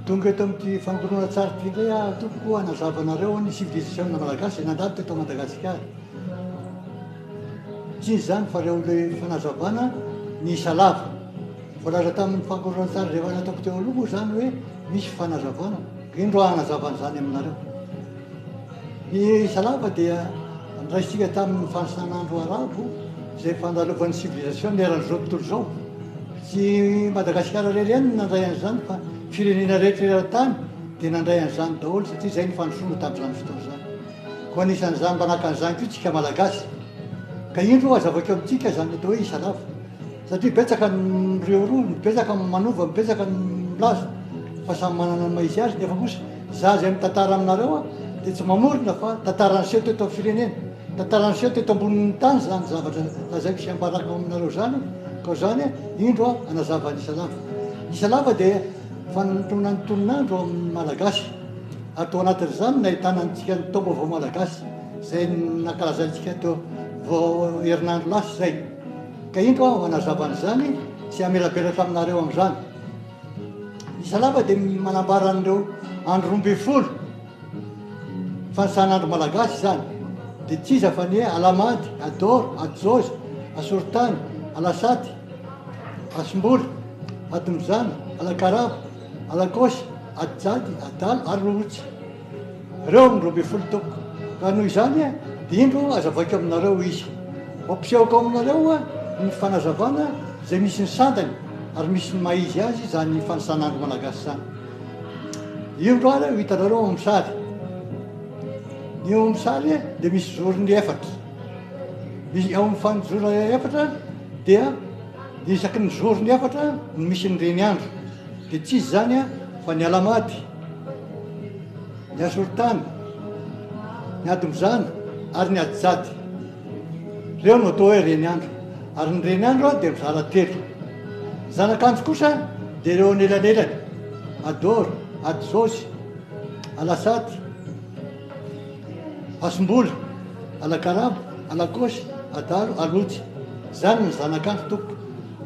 Tonga eto amin'ity famoronana tsara ity indray aho tompoko hanazava anareo ny civilisation-na malagasy izay nandalo teto Madagasikara. Tsy izy izany fa ireo amin'ilay fanazavana miisa lava. Voalaza tamin'ny fampihoronan-tsary izay efa nataoko teo aloha moa izany hoe misy fanazavana. Indro aho hanazava an'izany aminareo. Ny isa lava dia andraisitsika tamin'ny fanisan'andro arabo izay fandalovan'ny sivilizasiona eran'izao tontolo izao. Tsy Madagasikara irery ihany no nandray an'izany fa firenena rehetra eran-tany dia nandray an'izany daholo satria izay ny fandrosoana tamin'izany fotoana izany. Koa anisan'izany manahaka an'izany koa isika Malagasy. Ka indro aza avy akeo amintsika izany atao hoe isa lava. Satria betsaka ny mireharoa, betsaka ny manova, betsaka ny milaza fa samy manana ny maha izy azy nefa kosa za izay mitantara aminareo a dia tsy mamorona fa tantara niseho teto amin'ny firenena, tantara niseho teto ambonin'ny tany izany zavatra lazaiko sy ambarako aminareo izany ka izany indro aho hanazava ny isa lava. Isa lava dia fanintonan'ny tonon'andro amin'ny Malagasy. ary tao anatin'izany no nahitana antsika ny taom-baovao malagasy izay nankalazantsika teo vao herinandro lasa izay ka indro aho hanazava an'izany sy hamelabelatra aminareo amin'izany ny salama dia manambara an'ireo andro roa ambin'ny folo fanisan'andro malagasy izany dia tsy iza fa ny hoe alamandy adoro ajozy asorotany alasaty asimboly atomizana alakarabo Alakôsy, Adjady, Adala ary Lolotsy. Ireo no roa ambin'ny folo toko. Ka noho izany dia indro aza vaiko aminareo izy. Mampisehoako aminareo ny fanazavana izay misy ny sandany ary misy ny maha izy azy izany fanisanandro malagasy izany. Indro ary ho hitanareo ao amin'ny sary. Ny eo amin'ny sary dia misy zorony efatra. Misy ao amin'ny fanijorona efatra dia. Dia isaky ny zorony efatra no misy ny reny andro, dia tsy izy izany fa ny Alamady, ny Asorotany, ny Adombizany ary ny Adijady. Ireo no atao hoe reny andro. Ary ny reny andro dia mizara telo. Ny zanakandro kosa dia ireo anelanelany, Adoro, Adizosy, Alasady. Hasombola, Anakarabo, Anakosy, Adalo, Alojy. Izany ny zanakandry tompoko.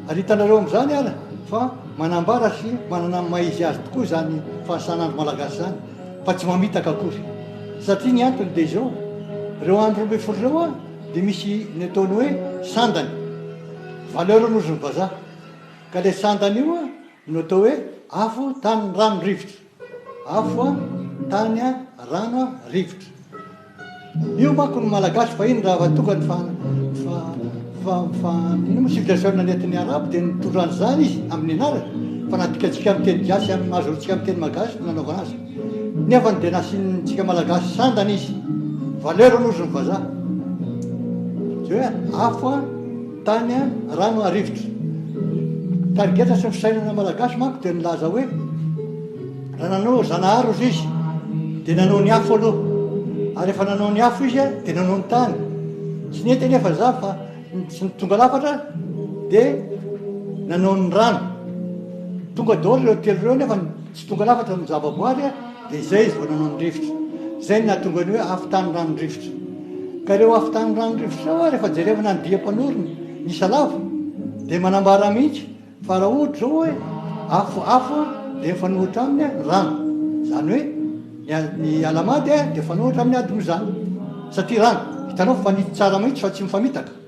Ary hitanareo amin'izany ary fa manambara sy manana ny maha izy azy tokoa izany fahasanandro malagasy izany fa tsy mamitaka akory. Satria ny antony dia izao, ireo andro roa ambin'ny folo ireo an, dia misy ny ataony hoe sandany, valeur ny ozin'ny vazaha. Ka ilay sandany io no atao hoe afo, tany, rano, rivotra. Afo a, tany a, rano a, rivotra. Io manko ny Malagasy fahiny raha va tonga ny fa fa fa fa ino moa civilisation nentin'ny Arabo dia nitondra an'izany izy amin'ny anarany fa na dikantsika amin'ny teny gasy amin'ny maha zorotsika amin'ny teny magasy no nanaovana azy nefa dia nasiantsika Malagasy sandany izy valeur aloha izy ny vazaha. Zay hoe afo a. Tany rano arivotra. Tarigetra sy ny fisainana malagasy manko dia nilaza hoe raha nanao zanahary ozy izy dia nanao ny afo aloha ary efa nanao ny afo izy dia nanao ny tany tsy nety anefa za fa tsy ny tonga lafatra dia nanao ny rano tonga daholo ireo telo ireo nefa Tsy tonga lafatra ny zavaboary dia izay izy vao nanao ny rivotra. Izay no nahatonga ny hoe afo tany rano rivotra. Ka ireo afo tany rano rivotra ireo ary rehefa jerevana ny dihy mpanorina, ny Isalava, dia manambara mihitsy fa raha ohatra izao hoe afo afo dia mifanohitra aminy ny rano. Izany hoe ny ny Alahamady dia mifanohitra amin'ny Adimozana satria rano. Hitanao fa mifanitsy tsara mihitsy fa tsy mifamitaka.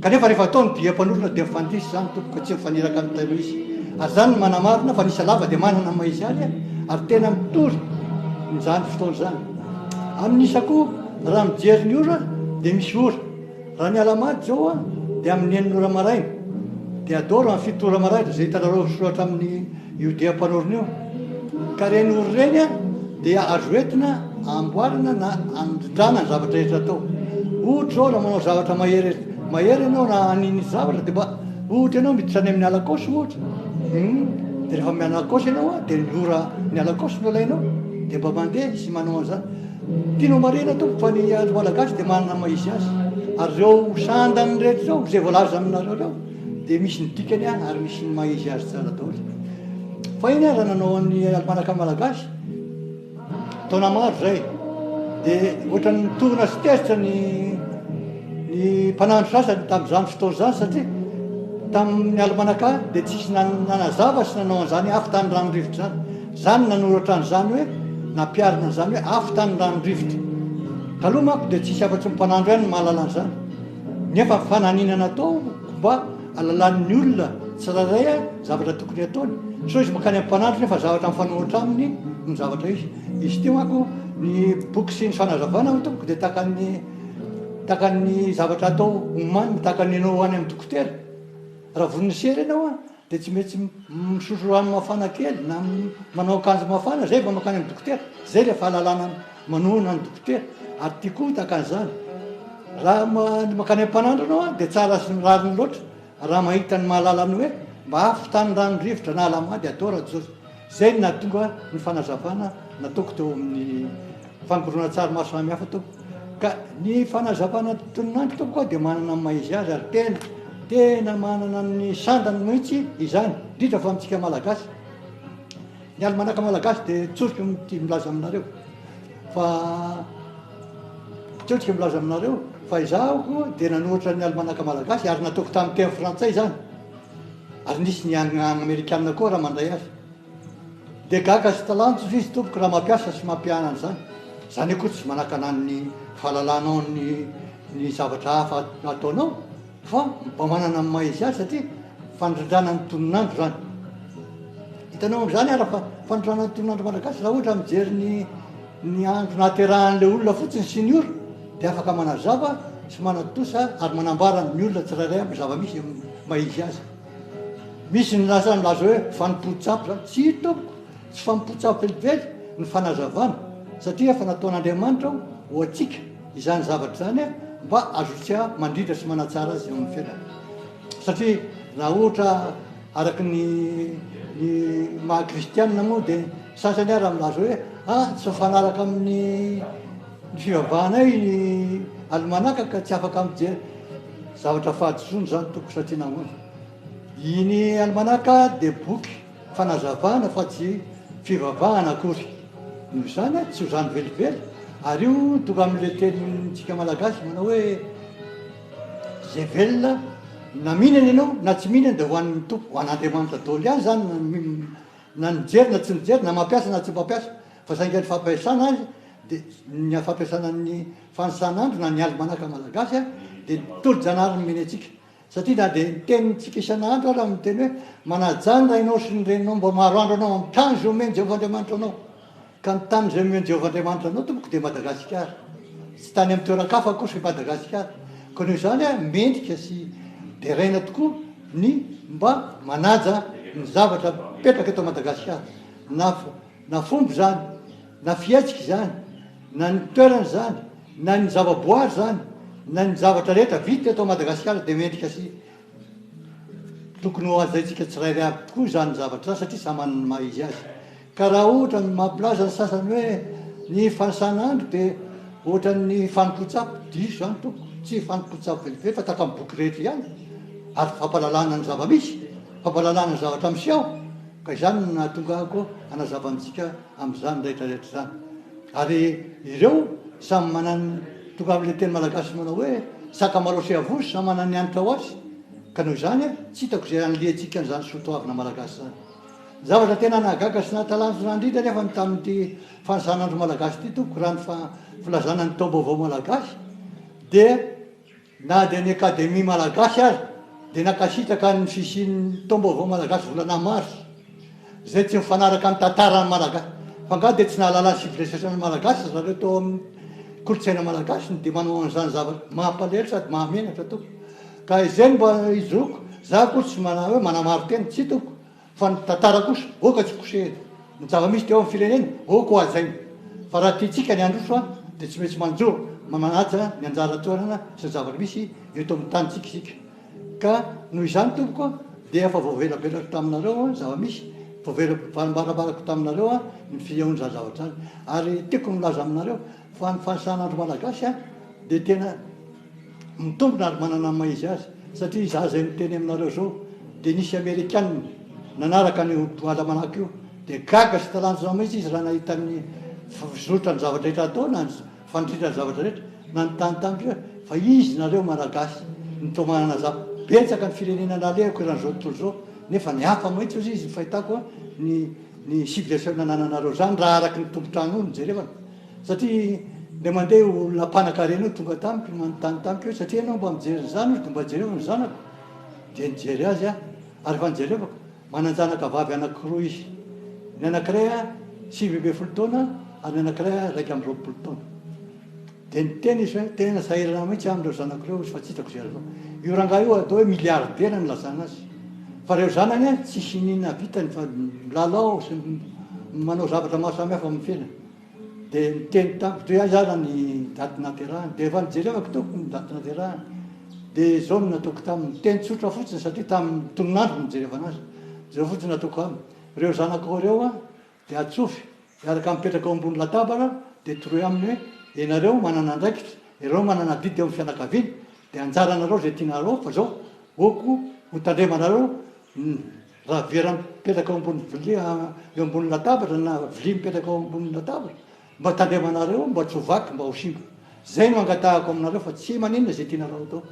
Kanefa rehefa atao ny dia mpanorina dia mifandiso izany tompoko ka tsy mifaniraka amin'ny tailo izy. Ary izany no manamarina fa ny isa lava dia manana ny maha izy aly ary tena mitory izany fotoana izany. Amin'ny isa koa raha mijery ny ora dia misy ora. Raha ny alamady izao dia amin'ny enina ora maraina dia adoro amin'ny fito ora maraina izay hitanareo soratra amin'ny Io dia mpanorina io. Ka ireny ora ireny dia azo entina amboarina na andrindrana ny zavatra rehetra atao. Ohatra izao raha manao zavatra mahery mahery ianao na haniny zavatra dia mba ohatra ianao miditra any amin'ny alakaosy ohatra. Hmm. Dia rehefa mianalakaosy ianao dia ny ora ny alakaosy no alainao dia mba mandeha sy manao an'izany. Tianao marihina tompoko fa ny andro malagasy dia manana maha izy azy. Ary ireo sandany rehetra ireo izay voalaza aminareo ireo Dia misy ny dikany ary misy ny maha izy azy tsara daholo. Fahiny aho raha nanao an'ny almanaka malagasy, taona maro izay, dia ohatran'ny mitorina sy tezitra ny ny mpanandro sasany tamin'izany fotoana izany satria tamin'ny almanaka dia tsisy nanazava sy nanao an'izany hoe afo tany rano rivotra izany. Izany nanoratra an'izany hoe nampiharina an'izany hoe afo tany rano rivotra. Taloha manko dia tsisy afa-tsy ny mpanandro ihany no mahalala an'izany. Nefa fananina natao mba alalan'ny olona tsirairay zavatra tokony ataony. Sao izy mankany amin'ny mpanandro nefa zavatra mifanohitra aminy no zavatra izy. Izy ity manko ny boky sy ny fanazavana hoy tompoko dia tahaka ny tahaka ny zavatra atao omaniny, tahaka ny ianao any amin'ny dokotera. Raha vonona sy ela ianao an! Dia tsy maintsy misotro rano mafana kely na manao akanjo mafana zay vao mankany amin'ny dokotera, zay ilay fahalalana manohana ny dokotera ary tiako hotaka an'izany. Raha mankany am-panandro ianao dia tsara sy ny rariny loatra raha mahita ny mahalala ny hoe mba afo tany rano rivotra na alamady atao Rajozafy. Izay no nahatonga ny fanazavana nataoko teo amin'ny fampirona-tsary maro samihafa teo. Ka ny fanazavana tononandro teo koa dia manana ny maha-izy azy ary tena, tena manana ny sandany mihitsy izany, indrindra fa amintsika Malagasy. Ny Alimanaka Malagasy dia tsoriko mity milaza aminareo fa, tsoriko milaza aminareo fa izaho dia nanoratra ny Alimanaka Malagasy ary nataoko tamin'ny teny frantsay izany. Ary nisy ny an amerikana koa raha mandray azy dia gaga sy talanjona izy tompoko raha mampiasa sy mampihana an'izany, izany akoa tsy manakana ny fahalalanao ny ny zavatra hafa ataonao fa mba manana ny maha izy azy satria fanondrandrana ny tonon'andro izany. Hitanao amin'izany ara fa fanondranana ny tonon'andro malagasy raha ohatra mijery ny Ny andro nahaterahan'ilay olona fotsiny sy ny ora dia afaka manazava sy manatontosa ary manambara ny olona tsirairay amin'ny zava-misy eo amin'ny maha izy azy. Misy ny lasa nilaza hoe fanompoan-tsampy izany. Tsia tompoko, tsy fanompoan-tsampy velively ny fanazavana satria efa nataon'Andriamanitra ho antsika izany zavatra izany mba hazotsika mandrindra sy manatsara azy eo amin'ny fiainana. Satria raha ohatra araka ny ny maha kristianina moa dia Sasany ary milaza hoe, ah, tsy mifanaraka amin'ny fivavahanay ny alimanaka ka tsy afaka mijery. Zavatra fahadisoana izany tompoko satria nahoana? Iny alimanaka dia boky fanazavana fa tsy fivavahana akory. Noho izany tsy ho zany velively ary io tonga amin'ilay tenintsika malagasy manao hoe, izay velona na mihinana ianao na tsy mihinana dia ho an'ny Tompo, ho an'Andriamanitra daholo ihany izany na Na nijery na tsy nijery, na mampiasa na tsy mpampiasa, fa saingy ny fampiasana azy dia ny fampiasana ny fanisan'andro na ny alimanaka malagasy dia ny tolo-janahary nomeny antsika. Satria na dia ny tenintsika isan'andro aza miteny hoe, manajà ny rainao sy ny reninao mba maharoandro anao amin'ny tanjona omen'i Jehovah Andriamanitra anao. Ka ny tany izay omen'i Jehovah Andriamanitra anao tompoko dia Madagasikara. Tsy tany amin'ny toeran-kafa akory fa i Madagasikara. Koa noho izany mendrika sy deraina tokoa ny mba manaja ny zavatra mipetraka eto Madagasikara. Na na fomba izany, na fihetsika izany, na ny toerana izany, na ny zavaboary izany, na ny zavatra rehetra vita eto Madagasikara dia mendrika sy tokony ho hajaintsika tsirairay avy tokoa izany zavatra izany satria samy manana ny maha izy azy. Ka raha ohatra ny mampilaza ny sasany hoe ny fanisan'andro dia ohatran'ny fanon-kotsapa, diso izany tompoko, tsy fanon-kotsapa velivery fa tahaka ny boky rehetra ihany ary fampahalalana ny zava-misy, fampahalalana ny zavatra miseho, ka izany no nahatongako hanazava amintsika amin'izany rehetra rehetra izany. Ary ireo samy manan'ny, tonga amin'ilay teny malagasy manao hoe sakamalaho sy avozo samy manana ny hanitra ho azy, ka noho izany tsy hitako izay hanilihantsika an'izany soatoavina malagasy izany. Ny zavatra tena nahagaga sy nahatalanjona indrindra anefa ny tamin'ity fanisana andro malagasy ity tompoko raha ny filazana ny taom-baovao malagasy dia na dia ny akademia malagasy aza dia nankasitraka ny fisian'ny taom-baovao malagasy volana mars izay tsy mifanaraka amin'ny tantaran'ny malagasy fa angaha dia tsy nahalala ny civilisation ny malagasy ry zareo tao amin'ny kolontsaina malagasy ny dia manao an'izany zavatra mampalahelo sady mahamenatra tompoko ka izay no mba hijoroako za akory tsy manao hoe manamaro tena tsy tompoko Fa ny tantara kosa oh ka tsy kosehina. Ny zava-misy teo amin'ny firenena oh ko hajaina. Fa raha tiantsika ny handroso an, dia tsy maintsy manjo ma manaja ny anjara toerana sy ny zava-misy eto amin'ny tanintsika isika. Ka noho izany tompoko an, dia efa voavelabelako taminareo an zava-misy, voavelambarambarako taminareo an ny fihaon'izany zavatra izany. Ary tiako ny milaza aminareo fa ny fanisan'andro malagasy an dia tena. Mitombina ary manana ny maha izy azy satria izaho izay miteny aminareo izao dia nisy amerikanina nanaraka an'io Almanach io dia gaga sy talanjona mihitsy izy raha nahita ny fizotra ny zavatra rehetra atao na ny fandritra ny zavatra rehetra nanontany tamiko hoe fa iza nareo Malagasy no toa manana za betsaka ny firenena nalehako eran'izao tontolo izao nefa ny hafa mihitsy ozy izy ny fahitako ny ny civilisation nanananareo zany raha araky ny tompon-trano io no jerevana Satria le mandeha io olona mpanakarena io tonga tamiko manontany tamiko hoe satria ianao mba mijery an'izany hoy dia mba jereo ny zanako dia nijery azy aho ary efa nijerevako manan-janaka vavy anankiroa izy ny anankiray sivy ambin'ny folo taona ary ny anankiray iraika amby roapolo taona dia niteny izy hoe tena sahirana mihitsy aho amin'ireo zanako ireo izy fa tsy hitako izay atao io rangahy io atao hoe miliaridera ny lazana azy fa ireo zanany tsisy nina vitany fa milalao sy manao zavatra maro samihafa amin'ny fiainany Dia niteny tamiko hoe aiza ary ny daty naterahany, dia efa nijerevako teo ny daty naterahany, dia izao no nataoko taminy, teny tsotra fotsiny satria tamin'ny tonon'andro no nijerevana azy, izao fotsiny no ataoko aminy, ireo zanakao ireo an dia atsofy hiaraka mipetraka ao ambony latabatra dia toroy aminy hoe ianareo manana andraikitra, ianareo manana adidy eo amin'ny fianakaviana, dia anjaranareo izay tianareo fa izao ok hotandremanareo ny. Raha vera mipetraka ao ambony vilia eo ambony latabatra na vilia mipetraka ao ambony latabatra mba tandremanareo mba tsy ho vaky mba ho simba zay no angatahako aminareo fa tsy maninona izay tianareo atao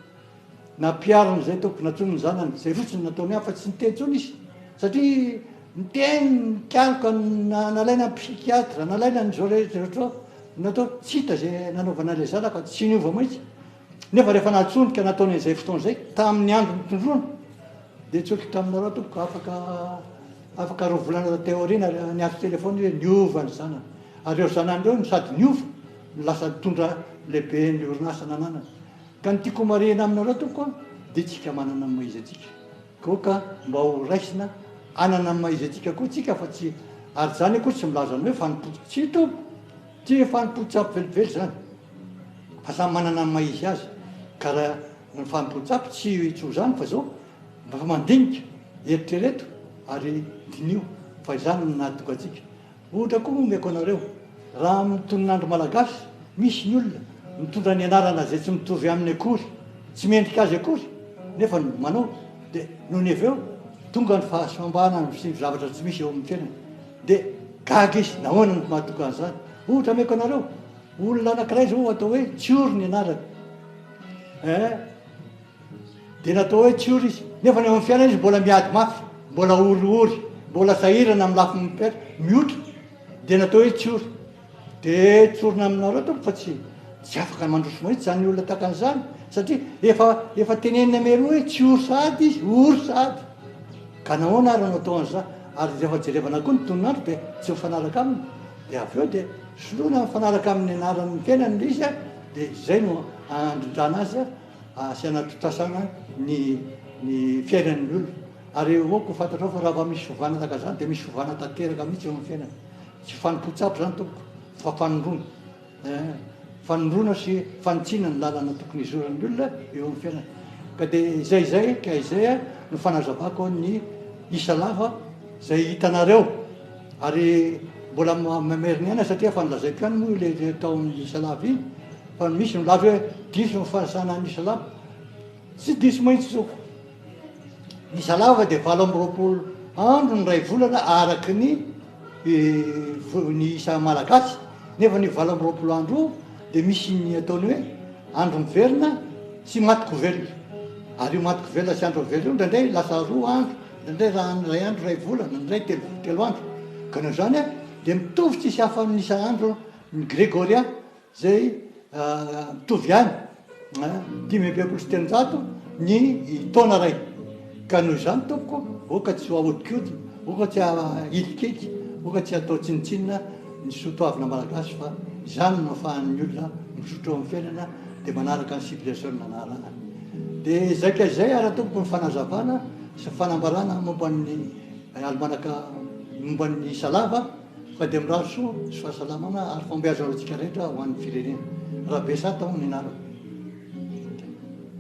na piaro an'izay tompoko na tsony ny zanany zay fotsiny nataony afa tsy niteny tsony izy satria niteny nikaroka nalaina ny psychiatre nalaina ny zao rehetra rehetra natao tsy hita zay nanaovana ilay zanaka tsy niova mihitsy Nefa rehefa nantsoiny ka nataony an'izay fotoana izay, tamin'ny andro nitondroany, dia nitsoaka taminareo tompoko afaka afaka roa volana taty aoriana ary niantso telefaony hoe niova ny zanany. Ary ireo zanany ireo no sady niova no lasa nitondra lehiben'ny orinasa nananany. Ka ny tiako homarihina aminareo tompoko an, dia tsika manana ny maha-izy-antsika. Koa ka mba ho raisina hanana ny maha-izy-antsika koa tsika fa tsy ary izany akory tsy milaza ny hoe fanompoan-tsia tompoko. Tsy fanompoan-tsampy velively izany. Fa samy manana ny maha izy azy ka raha ny fanompoan-tsampy tsy ho izany fa izao mba efa mandinika, eritrereto ary diniho fa izany no nahatonga antsika. Ohatra koa omeko anareo, raha amin'ny tonon'andro malagasy misy ny olona mitondra ny anarana izay tsy mitovy aminy akory, tsy mendrika azy akory nefa manao dia nony avy eo tonga ny fahasambarana ny fisian'ny zavatra tsy misy eo amin'ny fiainany dia gaga izy, nahoana no mahatonga an'izany? Ohatra ameko anareo. Olona anankiray izao atao hoe Tsiory ny anarany eh, dia natao hoe Tsiory izy, nefa ny ao amin'ny fiainana izy mbola miady mafy, mbola oriory, mbola sahirana amin'ny lafiny mpiaitra, mihotra, dia natao hoe Tsiory. Dia tsorina aminareo tompoko fa tsy tsy afaka mandroso mahitsy izany olona tahaka an'izany, satria efa efa tenenina mialoha hoe Tsiory sahady izy, ory sahady. Ka nahoana ary no atao an'izany? Ary rehefa jerevana koa ny tonon'andro dia tsy mifanaraka aminy. Dia avy eo dia soloina mifanaraka amin'ny anaran'ny tenany ilay izy dia izay no handrindrana azy sy hanatottasana ny ny fiainan'ny olona. Ary eo avao koa fantatrao fa raha vao misy fiovana tahaka izany dia misy fiovana tanteraka mihitsy eo amin'ny fiainana. Tsy fanompoan-tsampy izany tompoko fa fanondroana. fanondroana sy fanitsiana ny lalana tokony hizoran'ny olona eo amin'ny fiainana. Ka dia izay izay ka izay no fanazavako ny isa lava izay hitanareo ary mbola mamerina aina satria efa nilazaiko ihany moa ilay tao amin'ny isa lava iny fa misy milaza hoe diso ny fanasana ny isa lava Tsy diso mihitsy zoky. Ny salama dia valo amby roapolo andro ny iray volana araka ny ny isa malagasy nefa an'io valo amby roapolo andro io dia misy ny ataony hoe andro miverina sy maty ko velona ary io maty ko velona sy andro miverina io indraindray lasa roa andro indraindray raha ny iray andro iray volana indray telo telo andro ka noho izany dia mitovy tsisy hafa amin'ny isa andro ny gregorian Izay mitovy ihany, dimy amby enimpolo sy telonjato ny taona iray. Ka noho izany, tompoko, aoka tsy ho ahodikodina, aoka tsy hahilikilika, aoka tsy hatao tsinontsinona ny soa toavina malagasy fa izany no ahafahan'ny olona mizotra eo amin'ny fiainana dia manaraka ny civilisation nanarahany. Dia izay ka izay ary tompoko ny fanazavana sy ny fanambarana momba ny alimanaka momba ny isa lava. Fa dia mirary soa sy fahasalamana ary fahombiazana ho antsika rehetra ho an'ny firenena. Rabesa Tao ny anarako.